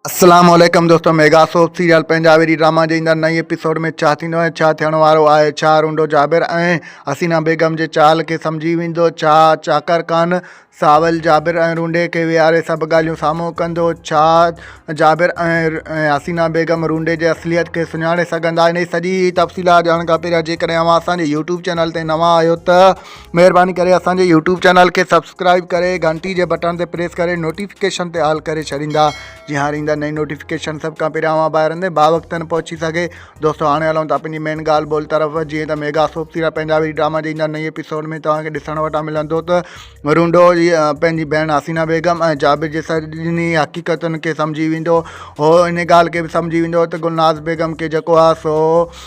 السلام عليڪم دوستو ميگا سوپ سيريل پنجابي ڊي ڊراما جي ايندڙ نئين ايپيسوڊ ۾ ڇا ٿيندو ۽ ڇا ٿيڻ وارو آهي ڇا رونڊو جابر ۽ حسينا بيگم جي چال کي سمجهي ويندو ڇا چاڪر خان ساول جابر ۽ رونڊي کي ويهاري سڀ ڳالهيون سامهون ڪندو ڇا جابر ۽ حسينا بيگم رونڊي جي اصليت کي سڃاڻي سگهندا ان جي سڄي تفصيلات ڄاڻڻ کان پهريان جيڪڏهن اوهان اسان جي يوٽيوب چينل تي نوان آهيو ته مهرباني ڪري اسان جي يوٽيوب چينل کي سبسڪرائب ڪري گهنٽي جي بٽڻ تي پريس ڪري نوٽيفڪيشن تي آل ڪري ڇڏيندا جي هاڻي ايندا نئين نوٽيفڪيشن سڀ کان پهريان اوهان ٻاهر اندي با وقت نه پهچي سگهي دوستو هاڻي هلون ٿا پنهنجي مين ڳالهه ٻولهه طرف جيئن ته ميگا سوپ سيرا پنهنجا وري ڊراما جي ايندا نئين ايپيسوڊ ۾ توهان کي ڏسڻ وٽا ملندو ته رونڊو جي پنهنجي ڀيڻ حسينا بيگم ۽ جابر جي سڄني حقيقتن کي سمجهي ويندو هو ان ڳالهه کي به سمجهي ويندو ته گلناز بيگم کي جيڪو آ سو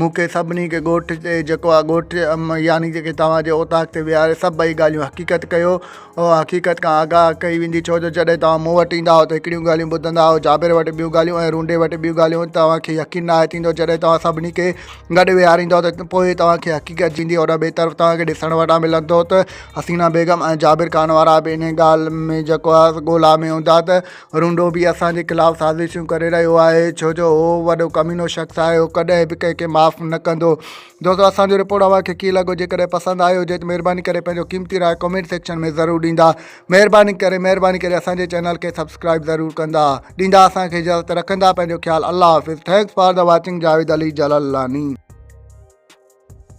مون کي سڀني کي ڳوٺ تي جيڪو آ ڳوٺ يعني جيڪي توهان جي اوطاق تي ويهاري سڀئي ڳالهيون حقيقت ڪيو او حقيقت کان آگاهه ڪئي ويندي ڇو جو جڏهن توهان مون وٽ ايندا آهيو ته هڪڙيون ڳالهيون ٻڌندا آهيو جابر وٽ ٻيون ڳالهيون ۽ رونڊي وٽ ٻيون ڳالهيون توهان کي يقين ناهي ٿيندو جڏهن توهان سڀني کي گڏ ويهاريندو ته پوء توهان کي حقيقت جيندي ان ٻئي طرف توهان کي ڏسڻ وٽان ملندو ته حسينا بيگم ۽ جابر خان وارا به ان ڳالهه ۾ جيڪو آ ڳولا ۾ هوندا ته رونڊو به اسان جي خلاف سازشون ڪري رهيو آهي ڇو جو هو وڏو ڪمينو شخص آهي هو ڪڏهن به ڪنهن کي معاف نه ڪندو دوستو اسانجو رپورٽ اوهان کي ڪيئن لڳو جيڪڏهن پسند آيو هجي ته مهرباني ڪري پنهنجو قيمتي راء ڪمينٽ سيڪشن ۾ ضرور ڏيندا مهرباني ڪري مهرباني ڪري اسانجي چينل کي سبسڪرائب ضرور ڪندا ڏيندا اسانکي اجازت رکندا پنهنجو خيال الله حافظ thanks for the watching Javed Ali Jalalani